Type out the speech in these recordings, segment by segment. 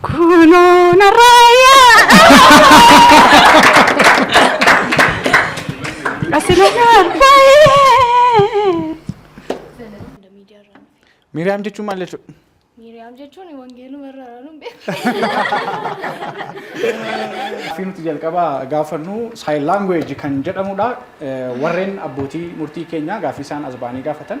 Kunoo narraayyaa. Asirra baay'ee. Miiriyaam jechuun maal jechuudha? Miiriyaam jechuun wangeeluma irra araarun beeku. Gaaffii nuti jalqabaa gaafannu sign language kan jedhamudha. Eh, Warreen abbootii murtii keenya gaaffii isaan as ba'anii gaafatan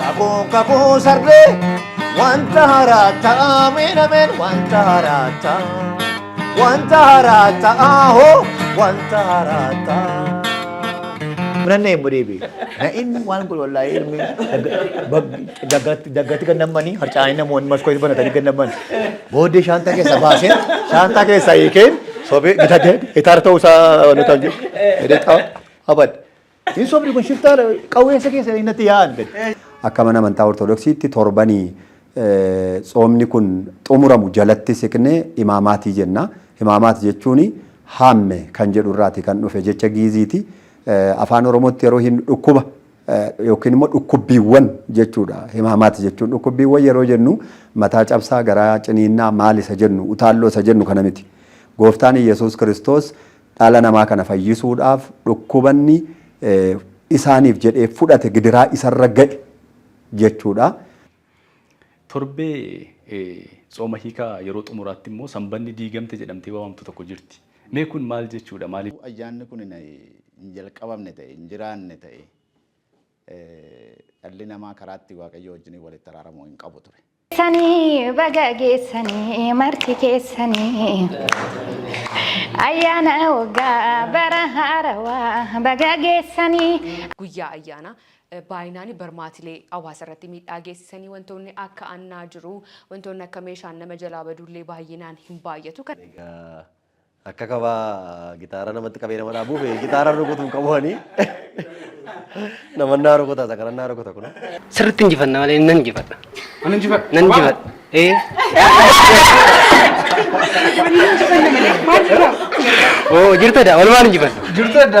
Kakuu kakuu sarbee wanta haaraa ta'a miidhameen wanta haaraa ta'a wanta haaraa ta'a hoo wanta haaraa ta'a. Munan na hin mudeebi. Na in waan kun wallahi ilmi daggatti gannammanii harcaanii namoonni maskoo itti banatanii gannammani. Booddee shaantaa keessa baasee shaantaa keessa hiikeen sobee gitaarra ta'uu isaa nutan jedhu. Abad. Hin sobdi kun shiftaa qawweessa keessa innatti yaa'an gadi. Akka mana amantaa Ortodoksiitti torbanii tsoomni kun xumuramu jalatti siqnee imaamaatii jenna. Imaamaat jechuun haamme kan jedhu irraati kan dhufe jecha giiziiti. Afaan Oromootti yeroo hin dhukkuba yookiin immoo dhukkubbiiwwan jechuudha. Imaamaat jechuun dhukkubbiiwwan yeroo jennu mataa cabsaa, garaa ciniinnaa maal isa jennu, utaalloo isa jennu kana miti. Gooftaan Iyyasuus Kiristoos Dhala namaa kana fayyisuudhaaf dhukkubanni isaaniif jedhee fudhate gidiraa isarra ga'e jechuudha. Torbee tsooma hiikaa yeroo xumuraatti immoo sanbanni diigamte jedhamtee waamamtu tokko jirti. Mee kun maal jechuudha? Maaliif? Ayyaanni kun hin jalqabamne ta'e, hin jiraanne ta'e dhalli namaa karaa itti Waaqayyoo wajjin walitti araaramu hin qabu ture. Sanii baga geessanii marti keessanii ayyaana waggaa bara haarawaa baga geessanii. Guyyaa ayyaanaa eh, baay'inaan barmaatilee hawaasa irratti miidhaa geessisanii wantoonni akka annaa jiru wantoonni akka meeshaan nama jalaa baduullee baay'inaan hin baay'atu. Kan Egaa Akka kabaa gitaara namatti qabee nama dhaabuuf gitaara rukutuun qabu ani. Namannaa rukutaa isa kanannaa rukuta kun. Sirriitti injifanna malee nan injifadha. Ani injifadha. Nan injifadha. Ee. Oo jirtadha walumaan injifanna. Jirtadha.